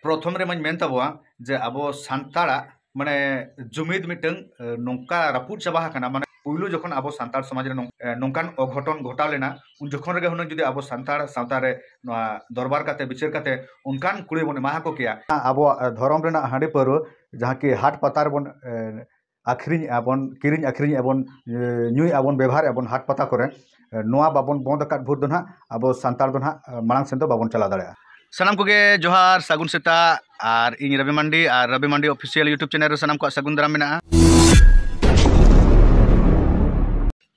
ᱯᱨᱚᱛᱷᱚᱢ ᱨᱮ ᱢᱟᱹᱧ ᱢᱮᱱ ᱛᱟᱵᱚᱣᱟ ᱡᱮ ᱟᱵᱚ ᱥᱟᱱᱛᱟᱲᱟᱜ ᱢᱟᱱᱮ ᱡᱩᱢᱤᱫ ᱢᱤᱫᱴᱟᱝ ᱱᱚᱝᱠᱟ ᱨᱟᱹᱯᱩᱫ ᱪᱟᱵᱟ ᱟᱠᱟᱱᱟ ᱢᱟᱱᱮ ᱯᱩᱭᱞᱩ ᱡᱚᱠᱷᱚᱱ ᱟᱵᱚ ᱥᱟᱱᱛᱟᱲ ᱥᱚᱢᱟᱡᱽ ᱨᱮ ᱱᱚᱝᱠᱟᱱ ᱚᱜᱷᱚᱴᱚᱱ ᱜᱷᱚᱴᱟᱣ ᱞᱮᱱᱟ ᱩᱱ ᱡᱚᱠᱷᱚᱱ ᱨᱮᱜᱮ ᱦᱩᱱᱟᱹᱝ ᱡᱩᱫᱤ ᱟᱵᱚ ᱥᱟᱱᱛᱟᱲ ᱥᱟᱶᱛᱟ ᱨᱮ ᱱᱚᱣᱟ ᱫᱚᱨᱵᱟᱨ ᱠᱟᱛᱮ ᱵᱤᱪᱟᱹᱨ ᱠᱟᱛᱮ ᱚᱱᱠᱟᱱ ᱠᱩᱲᱟᱹᱭ ᱵᱚᱱ ᱮᱢᱟ ᱟᱠᱚ ᱠᱮᱭᱟ ᱟᱵᱚᱣᱟᱜ ᱫᱷᱚᱨᱚᱢ ᱨᱮᱱᱟᱜ ᱦᱟᱺᱰᱤ ᱯᱟᱹᱣᱨᱟᱹ ᱡᱟᱦᱟᱸ ᱠᱤ ᱦᱟᱴ ᱯᱟᱛᱟ ᱨᱮᱵᱚᱱ ᱟᱹᱠᱷᱨᱤᱧᱮᱜᱼᱟ ᱵᱚᱱ ᱠᱤᱨᱤᱧ ᱟᱹᱠᱷᱨᱤᱧᱮᱜᱼᱟ ᱵᱚᱱ ᱧᱩᱭᱮᱜᱼᱟ ᱵᱚᱱ ᱵᱮᱵᱷᱟᱨᱮᱜᱼᱟ ᱵᱚᱱ ᱦᱟᱴ ᱯᱟᱛᱟ ᱠᱚᱨᱮᱜ ᱱᱚᱣᱟ ᱵᱟᱵᱚᱱ ᱵᱚᱱᱫᱷ ᱟᱠᱟᱫ ᱵᱷᱳᱨ ᱫᱚ ᱦᱟᱸᱜ ᱟᱵᱚ ᱥᱟᱱᱛᱟᱲ ᱫᱚ ᱦᱟᱸᱜ ᱢᱟᱲᱟᱝ ᱥᱮᱫ ᱫᱚ ᱵᱟᱵᱚᱱ ᱪᱟᱞᱟᱣ ᱫᱟᱲᱮᱭᱟᱜᱼᱟ ᱥᱟᱱᱟᱢ ᱠᱚᱜᱮ ᱡᱚᱦᱟᱨ ᱥᱟᱹᱜᱩᱱ ᱥᱮᱛᱟᱜ ᱟᱨ ᱤᱧ ᱨᱚᱵᱤ ᱢᱟᱱᱰᱤ ᱟᱨ Robi Mandi official YouTube channel ᱨᱮ ᱥᱟᱱᱟᱢ ᱠᱚᱣᱟᱜ ᱥᱟᱹᱜᱩᱱ ᱫᱟᱨᱟᱢ ᱢᱮᱱᱟᱜᱼᱟ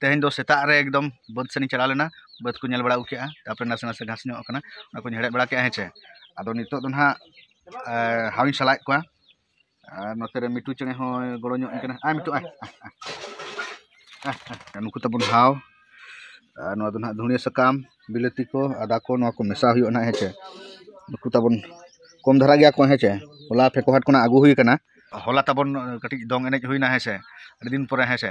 ᱛᱮᱦᱮᱧ ᱫᱚ ᱥᱮᱛᱟᱜ ᱨᱮ ᱮᱠᱫᱚᱢ ᱵᱟᱹᱫᱽ ᱥᱮᱱ ᱤᱧ ᱪᱟᱞᱟᱣ ᱞᱮᱱᱟ ᱵᱟᱹᱫᱽ ᱠᱚ ᱧᱮᱞ ᱵᱟᱲᱟ ᱟᱹᱜᱩ ᱠᱮᱜᱼᱟ ᱛᱟᱨᱯᱚᱨᱮ ᱱᱟᱥᱮ ᱱᱟᱥᱮ ᱜᱷᱟᱥ ᱧᱚᱜ ᱠᱟᱱᱟ ᱚᱱᱟ ᱠᱚᱧ ᱦᱮᱲᱦᱮᱫ ᱵᱟᱲᱟ ᱠᱮᱜᱼᱟ ᱦᱮᱸ ᱪᱮ ᱟᱫᱚ ᱱᱤᱛᱚᱜ ᱫᱚ ᱦᱟᱸᱜ ᱦᱟᱣᱤᱧ ᱥᱟᱞᱟᱭᱮᱫ ᱠᱚᱣᱟ ᱟᱨ ᱱᱚᱛᱮ ᱨᱮ ᱢᱤᱴᱩ ᱪᱮᱬᱮ ᱦᱚᱸᱭ ᱜᱚᱲᱚ ᱧᱚᱜ ᱟᱹᱧ ᱠᱟᱱᱟ ᱟᱭ ᱢᱤᱴᱩ ᱟᱭ ᱟᱭ ᱱᱩᱠᱩ ᱛᱟᱵᱚᱱ ᱦᱟᱣ ᱟᱨ ᱱᱚᱣᱟ ᱫᱚ ᱱᱟᱦᱟᱜ ᱫᱷᱩᱬᱤᱭᱟᱹ ᱥᱟᱠᱟᱢ ᱵᱤᱞᱟᱹᱛᱤ ᱠᱚ ᱟᱫᱟ ᱠᱚ ᱱᱚᱣᱟ ᱠᱚ ᱢᱮᱥᱟ ᱦᱩᱭᱩᱜᱼᱟ ᱱᱟᱦᱟᱜ ᱦᱮᱸ ᱪᱮ ᱱᱩᱠᱩ ᱛᱟᱵᱚᱱ ᱠᱚᱢ ᱫᱷᱟᱨᱟ ᱜᱮᱭᱟ ᱠᱚ ᱦᱮᱸ ᱪᱮ ᱦᱚᱞᱟ ᱯᱷᱮᱠᱚ ᱦᱟᱴ ᱠᱷᱚᱱᱟᱜ ᱟᱹᱜᱩ ᱦᱩᱭ ᱠᱟᱱᱟ ᱦᱚᱞᱟ ᱛᱟᱵᱚᱱ ᱠᱟᱹᱴᱤᱡ ᱫᱚᱝ ᱮᱱᱮᱡ ᱦᱩᱭᱱᱟ ᱦᱮᱸ ᱥᱮ ᱟᱹᱰᱤ ᱫᱤᱱ ᱯᱚᱨᱮ ᱦᱮᱸ ᱥᱮ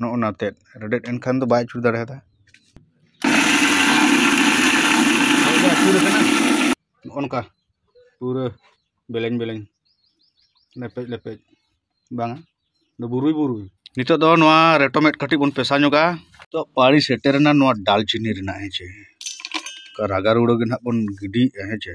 ᱱᱚᱜᱼᱚ ᱱᱟ ᱛᱮᱫ ᱨᱮᱰᱮᱫ ᱮᱱᱠᱷᱟᱱ ᱫᱚ ᱵᱟᱭ ᱟᱹᱪᱩᱨ ᱫᱟᱲᱮᱭᱟᱫᱟ ᱱᱚᱜᱼᱚ ᱱᱚᱝᱠᱟ ᱯᱩᱨᱟᱹ ᱵᱮᱞᱮᱧ ᱵᱮᱞᱮᱧ ᱞᱮᱯᱮᱡ ᱞᱮᱯᱮᱡ ᱵᱟᱝᱟ ᱫᱚ ᱵᱩᱨᱩᱭ ᱵᱩᱨᱩᱭ ᱱᱤᱛᱚᱜ ᱫᱚ ᱱᱚᱣᱟ ᱨᱮᱴᱚᱢᱮᱴ ᱠᱟᱹᱴᱤᱡ ᱵᱚᱱ ᱯᱮᱥᱟ ᱧᱚᱜᱟ ᱛᱚ ᱯᱟᱲᱤ ᱥᱮᱴᱮᱨᱮᱱᱟ ᱱᱚᱣᱟ ᱰᱟᱞᱪᱤᱱᱤ ᱨᱮᱱᱟᱜ ᱦᱮᱸ ᱪᱮ ᱨᱟᱜᱟᱨᱩᱲᱟᱹ ᱜᱮ ᱱᱟᱦᱟᱜ ᱵᱚᱱ ᱜᱤᱰᱤᱭᱮᱫᱼᱟ ᱦᱮᱸ ᱪᱮ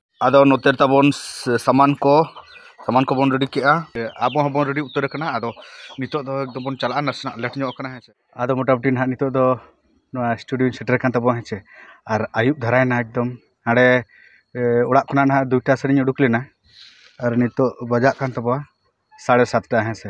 ᱟᱫᱚ ᱱᱚᱛᱮ ᱛᱟᱵᱚᱱ ᱥᱟᱢᱟᱱ ᱠᱚ ᱥᱟᱢᱟᱱ ᱠᱚᱵᱚᱱ ᱨᱮᱰᱤ ᱠᱮᱜᱼᱟ ᱟᱵᱚ ᱦᱚᱸᱵᱚᱱ ᱨᱮᱰᱤ ᱩᱛᱟᱹᱨ ᱠᱟᱱᱟ ᱟᱫᱚ ᱱᱤᱛᱚᱜ ᱫᱚ ᱮᱠᱫᱚᱢ ᱵᱚᱱ ᱪᱟᱞᱟᱜᱼᱟ ᱱᱟᱥᱮᱱᱟᱜ ᱞᱮᱴ ᱧᱚᱜ ᱠᱟᱱᱟ ᱦᱮᱸ ᱥᱮ ᱟᱫᱚ ᱢᱳᱴᱟᱢᱩᱴᱤ ᱱᱟᱦᱟᱜ ᱱᱤᱛᱚᱜ ᱫᱚ ᱱᱚᱣᱟ ᱥᱴᱩᱰᱤᱭᱳ ᱥᱮᱴᱮᱨ ᱠᱟᱱ ᱛᱟᱵᱚᱱᱟ ᱦᱮᱸ ᱥᱮ ᱟᱨ ᱟᱹᱭᱩᱵ ᱫᱷᱟᱨᱟᱭᱮᱱᱟ ᱮᱠᱫᱚᱢ ᱦᱟᱸᱰᱮ ᱚᱲᱟᱜ ᱠᱷᱚᱱᱟᱜ ᱱᱟᱦᱟᱜ ᱫᱩᱴᱟ ᱥᱮᱫ ᱤᱧ ᱩᱰᱩᱠ ᱞᱮᱱᱟ ᱟᱨ ᱱᱤᱛᱚᱜ ᱵᱟᱡᱟᱜ ᱠᱟᱱ ᱛᱟᱵᱚᱱᱟ ᱥᱟᱲᱮ ᱥᱟᱛᱴᱟ ᱦᱮᱸ ᱥᱮ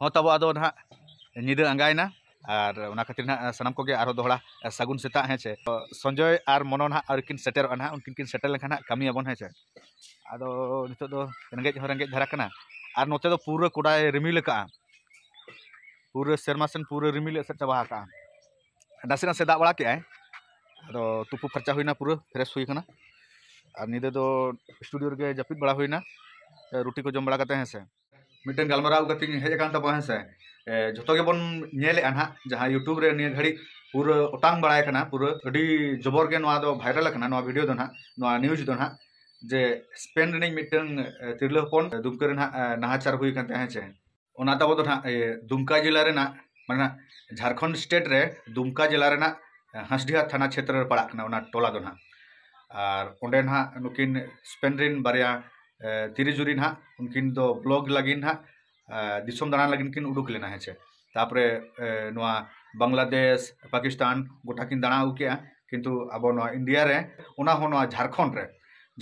ᱦᱚᱸ ᱛᱟᱵᱚ ᱟᱫᱚ ᱱᱟᱦᱟᱜ ᱧᱤᱫᱟᱹ ᱟᱸᱜᱟᱭᱮᱱᱟ ᱟᱨ ᱚᱱᱟ ᱠᱷᱟᱹᱛᱤᱨ ᱱᱟᱦᱟᱜ ᱥᱟᱱᱟᱢ ᱠᱚᱜᱮ ᱟᱨᱦᱚᱸ ᱫᱚᱦᱲᱟ ᱥᱟᱹᱜᱩᱱ ᱥᱮᱛᱟᱜ ᱦᱮᱸ ᱪᱮ ᱥᱚᱧᱡᱚᱭ ᱟᱨ ᱢᱚᱱᱚ ᱱᱟᱦᱟᱜ ᱟᱹᱣᱨᱤ ᱠᱤᱱ ᱥᱮᱴᱮᱨᱚᱜᱼᱟ ᱱᱟᱦᱟᱜ ᱩᱱᱠᱤᱱ ᱠᱤᱱ ᱥᱮᱴᱮᱨ ᱞᱮᱱᱠᱷᱟᱱ ᱱᱟᱦᱟᱜ ᱠᱟᱹᱢᱤᱭᱟᱵᱚᱱ ᱦᱮᱸ ᱪᱮ ᱟᱫᱚ ᱱᱤᱛᱚᱜ ᱫᱚ ᱨᱮᱸᱜᱮᱡ ᱦᱚᱸ ᱨᱮᱸᱜᱮᱡ ᱫᱷᱟᱨᱟ ᱠᱟᱱᱟ ᱟᱨ ᱱᱚᱛᱮ ᱫᱚ ᱯᱩᱨᱟᱹ ᱠᱚᱰᱟᱭ ᱨᱤᱢᱤᱞ ᱟᱠᱟᱜᱼᱟ ᱯᱩᱨᱟᱹ ᱥᱮᱨᱢᱟ ᱥᱮᱱ ᱯᱩᱨᱟᱹ ᱨᱤᱢᱤᱞ ᱮᱥᱮᱫ ᱪᱟᱵᱟ ᱟᱠᱟᱜᱼᱟ ᱱᱟᱥᱮ ᱱᱟᱥᱮ ᱫᱟᱜ ᱵᱟᱲᱟ ᱠᱮᱜᱼᱟᱭ ᱟᱫᱚ ᱛᱩᱯᱩ ᱯᱷᱟᱨᱪᱟ ᱦᱩᱭᱱᱟ ᱯᱩᱨᱟᱹ ᱯᱷᱨᱮᱥ ᱦᱩᱭ ᱠᱟᱱᱟ ᱟᱨ ᱧᱤᱫᱟᱹ ᱫᱚ ᱥᱴᱩᱰᱤᱭᱳ ᱨᱮᱜᱮ ᱡᱟᱹᱯᱤᱫ ᱵᱟᱲᱟ ᱦᱩᱭᱱᱟ ᱨᱩᱴᱤ ᱠᱚ ᱡᱚᱢ ᱵᱟᱲᱟ ᱠᱟᱛᱮ ᱦᱮᱸ ᱥᱮ ᱢᱤᱫᱴᱮᱱ ᱜᱟᱞᱢᱟᱨᱟᱣ ᱠᱟᱛᱮᱧ ᱦᱮᱡ ᱟᱠᱟᱱ ᱛᱟᱵᱚᱱᱟ ᱦᱮᱸ ᱥᱮ ᱡᱷᱚᱛᱚ ᱜᱮᱵᱚᱱ ᱧᱮᱞᱮᱜᱼᱟ ᱱᱟᱦᱟᱜ ᱡᱟᱦᱟᱸ ᱤᱭᱩᱴᱩᱵᱽ ᱨᱮ ᱱᱤᱭᱟᱹ ᱜᱷᱟᱹᱲᱤᱡ ᱯᱩᱨᱟᱹ ᱚᱴᱟᱝ ᱵᱟᱲᱟᱭ ᱠᱟᱱᱟ ᱯᱩᱨᱟᱹ ᱟᱹᱰᱤ ᱡᱚᱵᱚᱨ ᱜᱮ ᱱᱚᱣᱟ ᱫᱚ ᱵᱷᱟᱭᱨᱟᱞ ᱟᱠᱟᱱᱟ ᱱᱚᱣᱟ ᱵᱷᱤᱰᱤᱭᱳ ᱫᱚ ᱱᱟᱦᱟᱜ ᱱᱚᱣᱟ ᱱᱤᱭᱩᱡᱽ ᱫᱚ ᱱᱟᱦᱟᱜ ᱡᱮ ᱥᱯᱮᱱ ᱨᱤᱱᱤᱡ ᱢᱤᱫᱴᱟᱝ ᱛᱤᱨᱞᱟᱹ ᱦᱚᱯᱚᱱ ᱫᱩᱢᱠᱟᱹ ᱨᱮ ᱱᱟᱦᱟᱜ ᱱᱟᱦᱟᱪᱟᱨ ᱦᱩᱭ ᱟᱠᱟᱱ ᱛᱟᱭᱟ ᱦᱮᱸ ᱥᱮ ᱚᱱᱟ ᱛᱟᱵᱚ ᱫᱚ ᱱᱟᱦᱟᱜ ᱫᱩᱢᱠᱟ ᱡᱮᱞᱟ ᱨᱮᱱᱟᱜ ᱢᱟᱱᱮ ᱡᱷᱟᱲᱠᱷᱚᱸᱰ ᱥᱴᱮᱴ ᱨᱮ ᱫᱩᱢᱠᱟ ᱡᱮᱞᱟ ᱨᱮᱱᱟᱜ ᱦᱟᱸᱥᱰᱤᱦᱟ ᱛᱷᱟᱱᱟ ᱪᱷᱮᱛᱨᱚ ᱨᱮ ᱯᱟᱲᱟᱜ ᱠᱟᱱᱟ ᱚᱱᱟ ᱴᱚᱞᱟ ᱫᱚ ᱱᱟᱦᱟᱜ ᱟᱨ ᱚᱸᱰᱮ ᱱᱟᱦᱟᱜ ᱱᱩᱠᱤᱱ ᱥᱯᱮᱱ ᱨᱤᱱ ᱵᱟᱨᱭᱟ ᱛᱤᱨᱤᱥ ᱡᱩᱱ ᱨᱮ ᱦᱟᱸᱜ ᱩᱱᱠᱤᱱ ᱫᱚ ᱵᱞᱚᱠ ᱞᱟᱹᱜᱤᱫ ᱦᱟᱸᱜ ᱫᱤᱥᱚᱢ ᱫᱟᱬᱟᱱ ᱞᱟᱹᱜᱤᱫ ᱠᱤᱱ ᱩᱰᱩᱠ ᱞᱮᱱᱟ ᱦᱮᱸ ᱥᱮ ᱛᱟᱨᱯᱚᱨᱮ ᱱᱚᱣᱟ ᱵᱟᱝᱞᱟᱫᱮᱥ ᱯᱟᱠᱤᱥᱛᱟᱱ ᱜᱳᱴᱟ ᱠᱤᱱ ᱫᱟᱬᱟ ᱟᱹᱜᱩ ᱠᱮᱜᱼᱟ ᱠᱤᱱᱛᱩ ᱟᱵᱚ ᱱᱚᱣᱟ ᱤᱱᱰᱤᱭᱟ ᱨᱮ ᱚᱱᱟ ᱦᱚᱸ ᱱᱚᱣᱟ ᱡᱷᱟᱲᱠᱷᱚᱸᱰ ᱨᱮ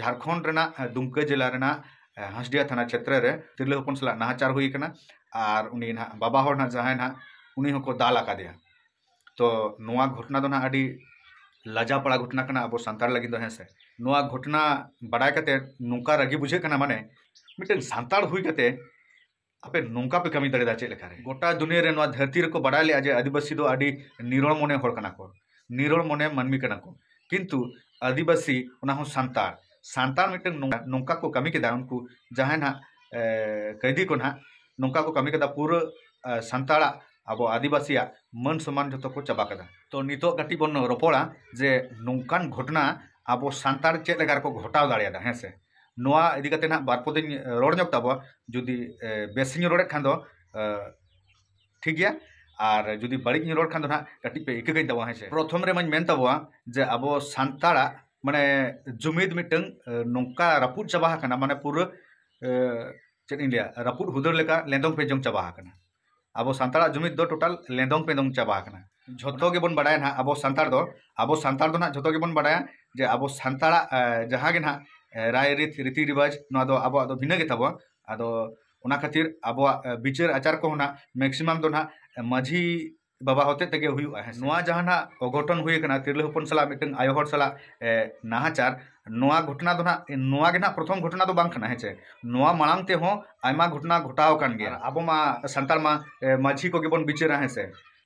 ᱡᱷᱟᱲᱠᱷᱚᱸᱰ ᱨᱮᱱᱟᱜ ᱫᱩᱢᱠᱟᱹ ᱡᱮᱞᱟ ᱨᱮᱱᱟᱜ ᱦᱟᱸᱥᱰᱤᱦᱟ ᱛᱷᱟᱱᱟ ᱪᱷᱮᱛᱨᱚ ᱨᱮ ᱛᱤᱨᱞᱟᱹ ᱦᱚᱯᱚᱱ ᱥᱟᱞᱟᱜ ᱱᱟᱦᱟᱪᱟᱨ ᱦᱩᱭ ᱠᱟᱱᱟ ᱟᱨ ᱩᱱᱤ ᱦᱟᱸᱜ ᱵᱟᱵᱟ ᱦᱚᱲ ᱦᱟᱸᱜ ᱡᱟᱦᱟᱸᱭ ᱦᱟᱸᱜ ᱩᱱᱤ ᱦᱚᱸᱠᱚ ᱫᱟᱞ ᱟᱠᱟᱫᱮᱭᱟ ᱛᱚ ᱱᱚᱣᱟ ᱜᱷᱚᱴᱚᱱᱟ ᱫᱚ ᱱᱟᱦᱟᱜ ᱟᱹᱰᱤ ᱞᱟᱡᱟᱣ ᱯᱟᱲᱟ ᱜᱷᱚᱴᱚᱱᱟ ᱠᱟᱱᱟ ᱟᱵᱚ ᱥᱟᱱᱛᱟᱲ ᱞᱟᱹᱜᱤᱫ ᱫᱚ ᱦᱮᱸ ᱥᱮ ᱱᱚᱣᱟ ᱜᱷᱚᱴᱚᱱᱟ ᱵᱟᱰᱟᱭ ᱠᱟᱛᱮ ᱱᱚᱝᱠᱟ ᱨᱟᱹᱜᱤ ᱵᱩᱡᱷᱟᱹᱜ ᱠᱟᱱᱟ ᱢᱟᱱᱮ ᱢᱤᱫᱴᱮᱱ ᱥᱟᱱᱛᱟᱲ ᱦᱩᱭ ᱠᱟᱛᱮ ᱟᱯᱮ ᱱᱚᱝᱠᱟ ᱯᱮ ᱠᱟᱹᱢᱤ ᱫᱟᱲᱮᱭᱟᱫᱟ ᱪᱮᱫ ᱞᱮᱠᱟᱨᱮ ᱜᱚᱴᱟ ᱫᱩᱱᱤᱭᱟᱹ ᱨᱮ ᱱᱚᱣᱟ ᱫᱷᱟᱹᱨᱛᱤ ᱨᱮᱠᱚ ᱵᱟᱰᱟᱭ ᱞᱮᱜᱼᱟ ᱡᱮ ᱟᱹᱫᱤᱵᱟᱹᱥᱤ ᱫᱚ ᱟᱹᱰᱤ ᱱᱤᱨᱚᱲ ᱢᱚᱱᱮ ᱦᱚᱲ ᱠᱟᱱᱟ ᱠᱚ ᱱᱤᱨᱚᱲ ᱢᱚᱱᱮ ᱢᱟᱹᱱᱢᱤ ᱠᱟᱱᱟ ᱠᱚ ᱠᱤᱱᱛᱩ ᱟᱹᱫᱤᱵᱟᱹᱥᱤ ᱚᱱᱟ ᱦᱚᱸ ᱥᱟᱱᱛᱟᱲ ᱥᱟᱱᱛᱟᱲ ᱢᱤᱫᱴᱮᱱ ᱱᱚᱝᱠᱟ- ᱱᱚᱝᱠᱟ ᱠᱚ ᱠᱟᱹᱢᱤ ᱠᱮᱫᱟ ᱩᱱᱠᱩ ᱡᱟᱦᱟᱸᱭ ᱱᱟᱦᱟᱜ ᱮ, ᱠᱟᱹᱭᱫᱤ ᱠᱚ ᱱᱟᱦᱟᱜ ᱱᱚᱝᱠᱟ ᱠᱚ ᱠᱟᱹᱢᱤ ᱠᱮᱫᱟ ᱯᱩᱨᱟᱹ ᱮ, ᱥᱟᱱᱛᱟᱲᱟᱜ ᱟᱵᱚ ᱟᱹᱫᱤᱵᱟᱹᱥᱤᱭᱟᱜ ᱢᱟᱹᱱ ᱥᱚᱱᱢᱟᱱ ᱡᱚᱛᱚ ᱠᱚ ᱪᱟᱵᱟ ᱠᱮᱫᱟ ᱛᱚ ᱱᱤᱛᱚᱜ ᱠᱟᱹᱴᱤᱡ ᱵᱚᱱ ᱨᱚᱯᱚᱲᱟ ᱡᱮ ᱱᱚᱝᱠᱟᱱ ᱜᱷᱚᱴᱚᱱᱟ ᱟᱵᱚ ᱥᱟᱱᱛᱟᱲ ᱪᱮᱫ ᱞᱮᱠᱟ ᱨᱮᱠᱚ ᱜᱷᱚᱴᱟᱣ ᱫᱟᱲᱮᱭᱟᱫᱟ ᱦᱮᱸ ᱥᱮ ᱱᱚᱣᱟ ᱤᱫᱤ ᱠᱟᱛᱮ ᱱᱟᱜ ᱵᱟᱨ ᱯᱚᱫᱤᱧ ᱨᱚᱲ ᱧᱚᱜ ᱛᱟᱵᱚᱣᱟ ᱡᱩᱫᱤ ᱵᱮᱥ ᱤᱧ ᱨᱚᱲᱮᱫ ᱠᱷᱟᱱ ᱫᱚ ᱴᱷᱤᱠ ᱜᱮᱭᱟ ᱟᱨ ᱡᱩᱫᱤ ᱵᱟᱹᱲᱤᱡ ᱤᱧ ᱨᱚᱲ ᱠᱷᱟᱱ ᱫᱚ ᱱᱟᱜ ᱠᱟᱹᱴᱤᱡ ᱯᱮ ᱤᱠᱟᱹ ᱠᱟᱹᱧ ᱛᱟᱵᱚᱣᱟ ᱦᱮᱸ ᱥᱮ ᱯᱨᱚᱛᱷᱚᱢ ᱨᱮ ᱢᱟᱧ ᱢᱮᱱ ᱛᱟᱵᱚᱣᱟ ᱡᱮ ᱟᱵᱚ ᱥᱟᱱᱛᱟᱲᱟᱜ ᱢᱟᱱᱮ ᱡᱩᱢᱤᱫ ᱢᱤᱫᱴᱟᱝ ᱱᱚᱝᱠᱟ ᱨᱟᱹᱯᱩᱫ ᱪᱟᱵᱟ ᱟᱠᱟᱱᱟ ᱢᱟᱱᱮ ᱯᱩᱨᱟᱹ ᱪᱮᱫ ᱤᱧ ᱞᱟᱹᱭᱟ ᱨᱟᱹᱯᱩᱫ ᱦᱩᱫᱟᱹᱲ ᱞᱮᱠᱟ ᱞᱮᱸᱫᱚᱝ ᱯᱮᱸᱫᱚᱝ ᱪᱟᱵᱟ ᱟᱠᱟᱱᱟ ᱟᱵᱚ ᱥᱟᱱᱛᱟᱲᱟᱜ ᱡᱩᱢᱤᱫ ᱫᱚ ᱴᱳᱴᱟᱞ ᱞᱮᱸᱫᱚᱝ ᱯᱮᱸᱫᱚᱝ ᱪᱟᱵᱟ ᱟᱠᱟᱱᱟ ᱡᱷᱚᱛᱚ ᱜᱮᱵᱚᱱ ᱵᱟᱰᱟᱭᱟ ᱱᱟᱦᱟᱜ ᱟᱵᱚ ᱥᱟᱱᱛᱟᱲ ᱫᱚ ᱟᱵᱚ ᱥᱟᱱᱛᱟᱲ ᱫᱚ ᱱᱟᱦᱟᱜ ᱡᱷᱚᱛᱚ ᱜᱮᱵᱚᱱ ᱵᱟᱰᱟᱭᱟ ᱡᱮ ᱟᱵᱚ ᱥᱟᱱᱛᱟᱲᱟᱜ ᱡᱟᱦᱟᱸ ᱜᱮ ᱱᱟᱦᱟᱜ ᱨᱟᱭ ᱨᱤᱛ ᱨᱤᱛᱤ ᱨᱮᱣᱟᱡᱽ ᱱᱚᱣᱟ ᱫᱚ ᱟᱵᱚᱣᱟᱜ ᱫᱚ ᱵᱷᱤᱱᱟᱹ ᱜᱮᱛᱟᱵᱚᱱᱟ ᱟᱫᱚ ᱚᱱᱟ ᱠᱷᱟᱹᱛᱤᱨ ᱟᱵᱚᱣᱟᱜ ᱵᱤᱪᱟᱹᱨ ᱟᱪᱟᱨ ᱠᱚᱦᱚᱸ ᱱᱟᱦᱟᱜ ᱢᱮᱠᱥᱤᱢᱟᱢ ᱫᱚ ᱱᱟᱦᱟᱜ ᱢᱟᱹᱡᱷᱤ ᱵᱟᱵᱟ ᱦᱚᱛᱮ ᱛᱮᱜᱮ ᱦᱩᱭᱩᱜᱼᱟ ᱦᱮᱸ ᱱᱚᱣᱟ ᱡᱟᱦᱟᱸ ᱱᱟᱜ ᱚᱜᱷᱚᱴᱚᱱ ᱦᱩᱭ ᱟᱠᱟᱱᱟ ᱛᱤᱨᱞᱟᱹ ᱦᱚᱯᱚᱱ ᱥᱟᱞᱟᱜ ᱢᱤᱫᱴᱟᱝ ᱟᱭᱳ ᱦᱚᱲ ᱥᱟᱞᱟᱜ ᱱᱟᱦᱟᱪᱟᱨ ᱱᱚᱣᱟ ᱜᱷᱚᱴᱚᱱᱟ ᱫᱚ ᱱᱟᱜ ᱱᱚᱣᱟ ᱜᱮ ᱱᱟᱜ ᱯᱨᱚᱛᱷᱚᱢ ᱜᱷᱚᱴᱚᱱᱟ ᱫᱚ ᱵᱟᱝ ᱠᱟᱱᱟ ᱦᱮᱸ ᱪᱮ ᱱᱚᱣᱟ ᱢᱟᱲᱟᱝ ᱛᱮᱦᱚᱸ ᱟᱭᱢᱟ ᱜᱷᱚᱴᱚᱱᱟ ᱜᱷᱚᱴᱟᱣ ᱟᱠᱟᱱ ᱜᱮᱭᱟ ᱟᱵᱚ ᱢᱟ ᱥᱟᱱᱛᱟᱲ ᱢᱟ ᱢᱟᱹᱡᱷᱤ ᱠᱚᱜᱮ ᱵᱚᱱ ᱵᱤᱪᱟᱹᱨᱟ ᱦᱮᱸ ᱥᱮ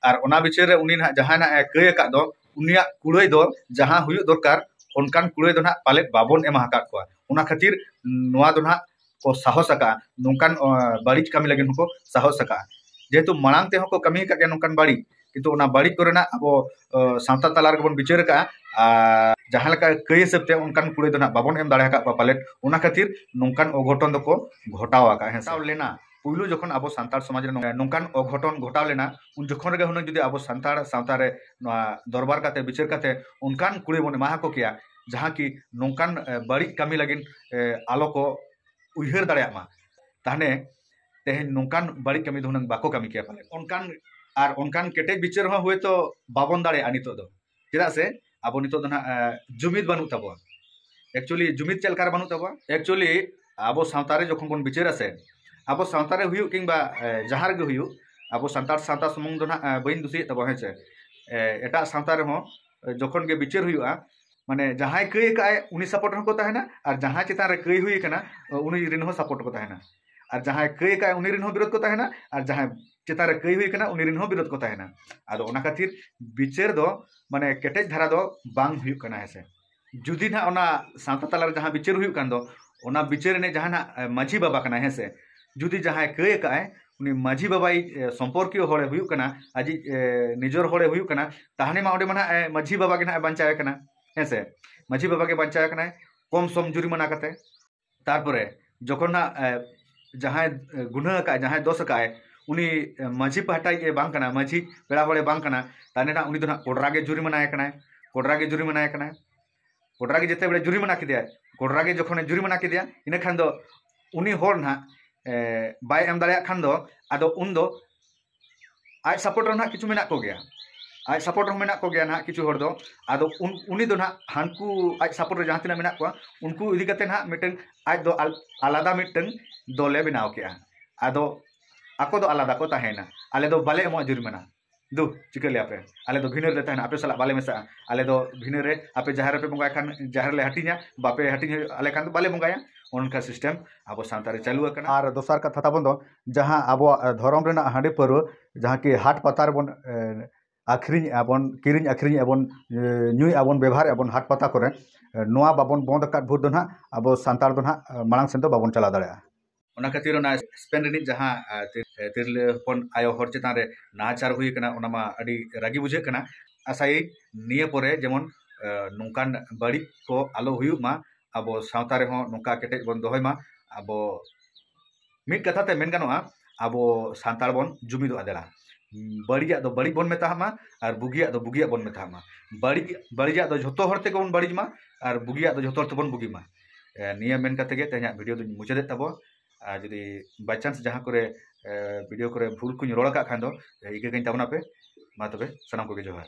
ᱟᱨ ᱚᱱᱟ ᱵᱤᱪᱟᱹᱨ ᱨᱮ ᱩᱱᱤ ᱱᱟᱜ ᱡᱟᱦᱟᱸᱭ ᱱᱟᱜ ᱠᱟᱹᱭ ᱟᱠᱟᱫ ᱫᱚ ᱩᱱᱤᱭᱟᱜ ᱠᱩᱲᱟᱹᱭ ᱫᱚ ᱡᱟᱦᱟᱸ ᱦᱩᱭᱩᱜ ᱫᱚᱨᱠᱟᱨ ᱚᱱᱠᱟᱱ ᱠᱩᱲᱟᱹᱭ ᱫᱚ ᱱᱟᱜ ᱯᱟᱞᱮᱫ ᱵᱟᱵᱚᱱ ᱮᱢᱟ ᱟᱠᱟᱫ ᱠᱚᱣᱟ ᱚᱱᱟ ᱠᱷᱟᱹᱛᱤᱨ ᱱᱚᱣᱟ ᱫᱚ ᱱᱟᱜ ᱠᱚ ᱥᱟᱦᱚᱥ ᱟᱠᱟᱫᱼᱟ ᱱᱚᱝᱠᱟᱱ ᱵᱟᱹᱲᱤᱡ ᱠᱟᱹᱢᱤ ᱞᱟᱹᱜᱤᱫ ᱦᱚᱸᱠᱚ ᱥᱟᱦᱚᱥ ᱟᱠᱟᱫᱼᱟ ᱡᱮᱦᱮᱛᱩ ᱢᱟᱲᱟᱝ ᱛᱮᱦᱚᱸ ᱠᱚ ᱠᱟᱹᱢᱤ ᱟᱠᱟᱫ ᱜᱮᱭᱟ ᱱᱚᱝᱠᱟᱱ ᱵᱟᱹᱲᱤᱡ ᱠᱤᱱᱛᱩ ᱚᱱᱟ ᱵᱟᱹᱲᱤᱡ ᱠᱚᱨᱮᱱᱟᱜ ᱟᱵᱚ ᱥᱟᱶᱛᱟ ᱛᱟᱞᱟ ᱨᱮᱜᱮ ᱵᱚᱱ ᱵᱤᱪᱟᱹᱨ ᱟᱠᱟᱫᱼᱟ ᱟᱨ ᱡᱟᱦᱟᱸ ᱞᱮᱠᱟ ᱠᱟᱹᱭ ᱦᱤᱥᱟᱹᱵ ᱛᱮ ᱚᱱᱠᱟᱱ ᱠᱩᱲᱟᱹᱭ ᱫᱚ ᱱᱟᱦᱟᱜ ᱵᱟᱵᱚᱱ ᱮᱢ ᱫᱟᱲᱮ ᱟᱠᱟᱫ ᱠᱚᱣᱟ ᱯᱟᱞᱮᱫ ᱚᱱᱟ ᱠᱷᱟᱹᱛᱤᱨ ᱱᱚᱝᱠᱟᱱ ᱚᱜᱷᱚᱴᱚᱱ ᱫᱚᱠᱚ ᱜᱷᱚᱴᱟᱣ ᱟᱠᱟᱫᱼᱟ ᱦᱮᱸ ᱥᱟᱶ ᱞᱮᱱᱟ ᱯᱩᱭᱞᱩ ᱡᱚᱠᱷᱚᱱ ᱟᱵᱚ ᱥᱟᱱᱛᱟᱲ ᱥᱚᱢᱟᱡᱽ ᱨᱮ ᱱᱚᱝᱠᱟᱱ ᱚᱜᱷᱚᱴᱚᱱ ᱜᱷᱚᱴᱟᱣ ᱞᱮᱱᱟ ᱩᱱ ᱡᱚᱠᱷᱚᱱ ᱨᱮᱜᱮ ᱦᱩᱱᱟᱹᱝ ᱡᱩᱫᱤ ᱟᱵᱚ ᱥᱟᱱᱛᱟᱲ ᱥᱟᱶᱛᱟ ᱨᱮ ᱱᱚᱣᱟ ᱫᱚᱨᱵᱟᱨ ᱠᱟᱛᱮ ᱵᱤᱪᱟᱹᱨ ᱠᱟᱛᱮ ᱚᱱᱠᱟᱱ ᱠᱩᱲᱟᱹᱭ ᱵᱚᱱ ᱮᱢᱟ ᱟᱠᱚ ᱠᱮᱭᱟ ᱡᱟᱦᱟᱸ ᱠᱤ ᱱᱚᱝᱠᱟᱱ ᱵᱟᱹᱲᱤᱡ ᱠᱟᱹᱢᱤ ᱞᱟᱹᱜᱤᱫ ᱟᱞᱚ ᱠᱚ ᱩᱭᱦᱟᱹᱨ ᱫᱟᱲᱮᱭᱟᱜ ᱢᱟ ᱛᱟᱦᱚᱞᱮ ᱛᱮᱦᱮᱧ ᱱᱚᱝᱠᱟᱱ ᱵᱟᱹᱲᱤᱡ ᱠᱟᱹᱢᱤ ᱫᱚ ᱦᱩᱱᱟᱹᱝ ᱵᱟᱠᱚ ᱠᱟᱹᱢᱤ ᱠᱮᱭᱟ ᱯᱟᱞᱮ ᱚᱱᱠᱟᱱ ᱟᱨ ᱚᱱᱠᱟᱱ ᱠᱮᱴᱮᱡ ᱵᱤᱪᱟᱹᱨ ᱦᱚᱸ ᱦᱳᱭᱛᱳ ᱵᱟᱵᱚᱱ ᱫᱟᱲᱮᱭᱟᱜᱼᱟ ᱱᱤᱛᱚᱜ ᱫᱚ ᱪᱮᱫᱟᱜ ᱥᱮ ᱟᱵᱚ ᱱᱤᱛᱚᱜ ᱫᱚ ᱱᱟᱦᱟᱜ ᱡᱩᱢᱤᱫ ᱵᱟᱹᱱᱩᱜ ᱛᱟᱵᱚᱣᱟ ᱮᱠᱪᱩᱭᱮᱞᱤ ᱡᱩᱢᱤᱫ ᱪᱮᱫ ᱞᱮᱠᱟᱨᱮ ᱵᱟᱹᱱᱩᱜ ᱛᱟᱵᱚᱣᱟ ᱮᱠᱪᱩᱭᱮᱞᱤ ᱟᱵᱚ ᱥᱟᱶᱛᱟ ᱨᱮ ᱡᱚᱠᱷᱚᱱ ᱵᱚᱱ ᱵᱤᱪᱟᱹᱨᱟ ᱥᱮ ᱟᱵᱚ ᱥᱟᱶᱛᱟ ᱨᱮ ᱦᱩᱭᱩᱜ ᱠᱤᱝᱵᱟ ᱡᱟᱦᱟᱸ ᱨᱮᱜᱮ ᱦᱩᱭᱩᱜ ᱟᱵᱚ ᱥᱟᱱᱛᱟᱲ ᱥᱟᱶᱛᱟ ᱥᱩᱢᱩᱝ ᱫᱚ ᱱᱟᱦᱟᱜ ᱵᱟᱹᱧ ᱫᱩᱥᱤᱭᱮᱫ ᱛᱟᱵᱚᱣᱟ ᱦᱮᱸ ᱥᱮ ᱮᱴᱟᱜ ᱥᱟᱶᱛᱟ ᱨᱮᱦᱚᱸ ᱡᱚᱠᱷᱚᱱ ᱜᱮ ᱵᱤᱪᱟᱹᱨ ᱦᱩᱭᱩᱜᱼᱟ ᱢᱟᱱᱮ ᱡᱟᱦᱟᱸᱭ ᱠᱟᱹᱭ ᱟᱠᱟᱫ ᱟᱭ ᱩᱱᱤ ᱥᱟᱯᱳᱨᱴ ᱨᱮᱦᱚᱸ ᱠᱚ ᱛᱟᱦᱮᱱᱟ ᱟᱨ ᱡᱟᱦᱟᱸᱭ ᱪᱮᱛᱟᱱ ᱨᱮ ᱠᱟᱹᱭ ᱦᱩᱭ ᱟᱠᱟᱱᱟ ᱩᱱᱤ ᱨᱮᱱ ᱦᱚᱸ ᱥᱟᱯᱳᱨᱴ ᱨᱮᱠᱚ ᱛᱟᱦᱮᱱᱟ ᱟᱨ ᱡᱟᱦᱟᱸᱭ ᱠᱟᱹᱭ ᱟᱠᱟᱫ ᱟᱭ ᱩᱱᱤ ᱨᱮᱱ ᱦᱚᱸ ᱵᱤᱨᱳᱫᱷ ᱠᱚ ᱛᱟᱦᱮᱱᱟ ᱟᱨ ᱡᱟᱦᱟᱸᱭ ᱪᱮᱛᱟᱱ ᱨᱮ ᱠᱟᱹᱭ ᱦᱩᱭ ᱟᱠᱟᱱᱟ ᱩᱱᱤ ᱨᱮᱱ ᱦᱚᱸ ᱵᱤᱨᱳᱫᱷ ᱠᱚ ᱛᱟᱦᱮᱱᱟ ᱟᱫᱚ ᱚᱱᱟ ᱠᱷᱟᱹᱛᱤᱨ ᱵᱤᱪᱟᱹᱨ ᱫᱚ ᱢᱟᱱᱮ ᱠᱮᱴᱮᱡ ᱫᱷᱟᱨᱟ ᱫᱚ ᱵᱟᱝ ᱦᱩᱭᱩᱜ ᱠᱟᱱᱟ ᱦᱮᱸᱥᱮ ᱡᱩᱫᱤ ᱱᱟᱦᱟᱜ ᱚᱱᱟ ᱥᱟᱶᱛᱟ ᱛᱟᱞᱟᱨᱮ ᱡᱟᱦᱟᱸ ᱵᱤᱪᱟᱹᱨ ᱦᱩᱭᱩᱜ ᱠᱟᱱ ᱫᱚ ᱚᱱᱟ ᱵᱤᱪᱟᱹᱨ ᱨᱤᱱᱤᱡ ᱡᱟᱦᱟᱸᱭ ᱱᱟᱦᱟᱜ ᱢᱟᱺᱡᱷᱤ ᱵᱟᱵᱟ ᱠᱟᱱᱟᱭ ᱦᱮᱸ ᱥᱮ ᱡᱩᱫᱤ ᱡᱟᱦᱟᱸᱭ ᱠᱟᱹᱭ ᱟᱠᱟᱫ ᱟᱭ ᱩᱱᱤ ᱢᱟᱺᱡᱷᱤ ᱵᱟᱵᱟᱭ ᱥᱚᱢᱯᱚᱨᱠᱤᱭᱚ ᱦᱚᱲᱮ ᱦᱩᱭᱩᱜ ᱠᱟᱱᱟ ᱟᱡᱤᱡ ᱱᱤᱡᱚᱨ ᱦᱚᱲᱮ ᱦᱩᱭᱩᱜ ᱠᱟᱱᱟ ᱛᱟᱦᱞᱮ ᱢᱟ ᱚᱸᱰᱮ ᱢᱟ ᱱᱟᱦᱟᱜ ᱢᱟᱺᱡᱷᱤ ᱵᱟᱵᱟ ᱜᱮ ᱱᱟᱦᱟᱜ ᱵᱟᱧᱪᱟᱣᱮ ᱠᱟᱱᱟ ᱦᱮᱸ ᱥᱮ ᱢᱟᱺᱡᱷᱤ ᱵᱟᱵᱟ ᱜᱮ ᱵᱟᱧᱪᱟᱣᱮ ᱠᱟᱱᱟᱭ ᱠᱚᱢ ᱥᱚᱢ ᱡᱩᱨᱤᱢᱟᱱᱟ ᱠᱟᱛᱮ ᱛᱟᱨᱯᱚᱨᱮ ᱡᱚᱠᱷᱚᱱ ᱦᱟᱸᱜ ᱡᱟᱦᱟᱸᱭ ᱜᱩᱱᱟᱹ ᱟᱠᱟᱫ ᱟᱭ ᱡᱟᱦᱟᱸᱭ ᱫᱚᱥ ᱟᱠᱟᱫ ᱟᱭ ᱩᱱᱤ ᱢᱟᱹᱡᱷᱤ ᱯᱟᱦᱴᱟ ᱨᱤᱱᱤᱡ ᱵᱟᱝ ᱠᱟᱱᱟᱭ ᱢᱟᱹᱡᱷᱤ ᱯᱮᱲᱟ ᱦᱚᱲᱮ ᱵᱟᱝ ᱠᱟᱱᱟ ᱛᱟᱦᱚᱞᱮ ᱦᱟᱸᱜ ᱩᱱᱤ ᱫᱚ ᱦᱟᱸᱜ ᱠᱚᱰᱨᱟ ᱜᱮ ᱡᱩᱨᱤᱢᱟᱱᱟᱭᱮ ᱠᱟᱱᱟᱭ ᱠᱚᱰᱨᱟ ᱜᱮ ᱡᱩᱨᱤᱢᱟᱱᱟᱭᱮ ᱠᱟᱱᱟᱭ ᱠᱚᱰᱨᱟ ᱜᱮ ᱡᱮᱛᱮ ᱵᱮᱲᱮ ᱡᱩᱨᱤᱢᱟᱱᱟ ᱠᱮᱫᱮᱭᱟᱭ ᱠᱚᱰᱨᱟ ᱜᱮ ᱡᱚᱠᱷᱚᱱᱮ ᱡᱩᱨᱤᱢᱟᱱᱟ ᱠᱮᱫᱮᱭᱟ ᱤᱱᱟᱹ ᱠᱷᱟᱱ ᱫᱚ ᱩᱱᱤ ᱦᱚᱲ ᱦᱟᱸᱜ ᱵᱟᱭ ᱮᱢ ᱫᱟᱲᱮᱭᱟᱜ ᱠᱷᱟᱱ ᱫᱚ ᱟᱫᱚ ᱩᱱ ᱫᱚ ᱟᱡ ᱥᱟᱯᱳᱨᱴ ᱨᱮ ᱱᱟᱦᱟᱜ ᱠᱤᱪᱷᱩ ᱢᱮᱱᱟᱜ ᱠᱚᱜᱮᱭᱟ ᱟᱡ ᱥᱟᱯᱳᱨᱴ ᱨᱮᱦᱚᱸ ᱢᱮᱱᱟᱜ ᱠᱚᱜᱮᱭᱟ ᱱᱟᱦᱟᱜ ᱠᱤᱪᱷᱩ ᱦᱚᱲ ᱫᱚ ᱟᱫᱚ ᱩᱱᱤ ᱫᱚ ᱱᱟᱦᱟᱜ ᱦᱟᱱᱠᱩ ᱟᱡ ᱥᱟᱯᱳᱨᱴ ᱨᱮ ᱡᱟᱦᱟᱸ ᱛᱤᱱᱟᱹᱜ ᱢᱮᱱᱟᱜ ᱠᱚᱣᱟ ᱩᱱᱠᱩ ᱤᱫᱤ ᱠᱟᱛᱮ ᱱᱟᱦᱟᱜ ᱢᱤᱫᱴᱟᱝ ᱟᱡ ᱫᱚ ᱟᱞᱟᱫᱟ ᱢᱤᱫᱴᱟᱝ ᱫᱚᱞᱮ ᱵᱮᱱᱟᱣ ᱠᱮᱜᱼᱟ ᱟᱫᱚ ᱟᱠᱚ ᱫᱚ ᱟᱞᱟᱫᱟ ᱠᱚ ᱛᱟᱦᱮᱸᱭᱮᱱᱟ ᱟᱞᱮ ᱫᱚ ᱵᱟᱞᱮ ᱮᱢᱚᱜᱼᱟ ᱡᱩᱨᱤᱢᱟᱱᱟ ᱫᱩ ᱪᱤᱠᱟᱹ ᱞᱮᱭᱟᱯᱮ ᱟᱞᱮ ᱫᱚ ᱵᱷᱤᱱᱟᱹ ᱨᱮᱞᱮ ᱛᱟᱦᱮᱱᱟ ᱟᱯᱮ ᱥᱟᱞᱟᱜ ᱵᱟᱞᱮ ᱢᱮᱥᱟᱜᱼᱟ ᱟᱞᱮ ᱫᱚ ᱵᱷᱤᱱᱟᱹ ᱨᱮ ᱟᱯᱮ ᱡᱟᱦᱮᱨ ᱨᱮᱯᱮ ᱵᱚᱸᱜᱟᱭ ᱠᱷᱟᱱ ᱡᱟᱦᱮᱨ ᱞᱮ ᱦᱟᱹᱴᱤᱧᱟ ᱵᱟᱯᱮ ᱦᱟᱹᱴᱤᱧ ᱟᱞᱮ ᱠᱷᱟᱱ ᱫᱚ ᱵᱟᱞᱮ ᱵᱚᱸᱜᱟᱭᱟ ᱚᱱᱠᱟ ᱥᱤᱥᱴᱮᱢ ᱟᱵᱚ ᱥᱟᱶᱛᱟ ᱨᱮ ᱪᱟᱹᱞᱩ ᱟᱠᱟᱱᱟ ᱟᱨ ᱫᱚᱥᱟᱨ ᱠᱟᱛᱷᱟ ᱛᱟᱵᱚᱱ ᱫᱚ ᱡᱟᱦᱟᱸ ᱟᱵᱚᱣᱟᱜ ᱫᱷᱚᱨᱚᱢ ᱨᱮᱱᱟᱜ ᱦᱟᱺᱰᱤ ᱯᱟᱹᱣᱨᱟᱹ ᱡᱟᱦᱟᱸ ᱠᱤ ᱦᱟᱴ ᱯᱟᱛᱟ ᱨᱮᱵᱚᱱ ᱟᱹᱠᱷᱨᱤᱧᱮᱜᱼᱟ ᱵᱚᱱ ᱠᱤᱨᱤᱧ ᱟᱹᱠᱷᱨᱤᱧᱮᱜᱼᱟ ᱵᱚᱱ ᱧᱩᱭᱮᱜᱼᱟ ᱵᱚᱱ ᱵᱮᱵᱷᱟᱨᱮᱜᱼᱟ ᱵᱚᱱ ᱦᱟᱴ ᱯᱟᱛᱟ ᱠᱚᱨᱮᱜ ᱱᱚᱣᱟ ᱵᱟᱵᱚᱱ ᱵᱚᱱᱫᱷ ᱟᱠᱟᱫ ᱵᱷᱳᱨ ᱫᱚ ᱦᱟᱸᱜ ᱟᱵᱚ ᱥᱟᱱᱛᱟᱲ ᱫᱚ ᱦᱟᱸᱜ ᱢᱟᱲᱟᱝ ᱥᱮᱫ ᱫᱚ ᱵᱟᱵᱚᱱ ᱪᱟᱞᱟᱣ ᱫᱟᱲᱮᱭᱟᱜᱼᱟ ᱚᱱᱟ ᱠᱷᱟᱹᱛᱤᱨ ᱚᱱᱟ ᱥᱯᱮᱱ ᱨᱤᱱᱤᱡ ᱡᱟᱦᱟᱸ ᱛᱤᱨᱞᱟᱹ ᱦᱚᱯᱚᱱ ᱟᱭᱳ ᱦᱚᱲ ᱪᱮᱛᱟᱱ ᱨᱮ ᱱᱟᱦᱟᱪᱟᱨ ᱦᱩᱭ ᱠᱟᱱᱟ ᱚᱱᱟ ᱢᱟ ᱟᱹᱰᱤ ᱨᱟᱹᱜᱤ ᱵᱩᱡᱷᱟᱹᱜ ᱠᱟᱱᱟ ᱟᱥᱟᱭᱟᱹᱧ ᱱᱤᱭᱟᱹ ᱯᱚᱨᱮ ᱡᱮᱢᱚᱱ ᱱᱚᱝᱠᱟᱱ ᱵᱟᱹᱲᱤᱡ ᱠᱚ ᱟᱞᱚ ᱦᱩᱭᱩᱜ ᱢᱟ ᱟᱵᱚ ᱥᱟᱶᱛᱟ ᱨᱮᱦᱚᱸ ᱱᱚᱝᱠᱟ ᱠᱮᱴᱮᱡ ᱵᱚᱱ ᱫᱚᱦᱚᱭ ᱢᱟ ᱟᱵᱚ ᱢᱤᱫ ᱠᱟᱛᱷᱟ ᱛᱮ ᱢᱮᱱ ᱜᱟᱱᱚᱜᱼᱟ ᱟᱵᱚ ᱥᱟᱱᱛᱟᱲ ᱵᱚᱱ ᱡᱩᱢᱤᱫᱚᱜᱼᱟ ᱫᱮᱞᱟ ᱵᱟᱹᱲᱤᱡᱟᱜ ᱫᱚ ᱵᱟᱹᱲᱤᱡ ᱵᱚᱱ ᱢᱮᱛᱟᱜ ᱢᱟ ᱟᱨ ᱵᱩᱜᱤᱭᱟᱜ ᱫᱚ ᱵᱩᱜᱤᱭᱟᱜ ᱵᱚᱱ ᱢᱮᱛᱟᱜ ᱢᱟ ᱵᱟᱹᱲᱤᱡ ᱵᱟᱹᱲᱤᱡᱟᱜ ᱫᱚ ᱡᱷᱚᱛᱚ ᱦᱚᱲ ᱛᱮᱜᱮ ᱵᱚᱱ ᱵᱟᱹᱲᱤᱡ ᱢᱟ ᱟᱨ ᱵᱩᱜᱤᱭᱟᱜ ᱫᱚ ᱡᱷᱚᱛᱚ ᱦᱚᱲ ᱛᱮᱵᱚᱱ ᱵᱩᱜᱤ ᱢᱟ ᱱᱤᱭᱟᱹ ᱢᱮᱱ ᱠᱟᱛᱮ ᱜᱮ ᱛᱮᱦᱮᱧᱟᱜ ᱵᱷᱤᱰᱤᱭᱳ ᱫᱚᱧ ᱢᱩᱪᱟᱹᱫᱮᱫ ᱛᱟᱵᱚᱱ ᱟᱨ ᱡᱩᱫᱤ ᱵᱟᱭ ᱪᱟᱱᱥ ᱡᱟᱦᱟᱸ ᱠᱚᱨᱮ ᱵᱷᱤᱰᱤᱭᱳ ᱠᱚᱨᱮ ᱵᱷᱩᱞ ᱠᱚᱧ ᱨᱚᱲ ᱟᱠᱟᱫ ᱠᱷᱟᱱ ᱫᱚ ᱤᱠᱟᱹ ᱠᱟᱹᱧ ᱛᱟᱵᱚᱱᱟᱯᱮ ᱢᱟ ᱛᱚᱵᱮ ᱥᱟᱱᱟᱢ ᱠᱚᱜᱮ ᱡᱚᱦᱟᱨ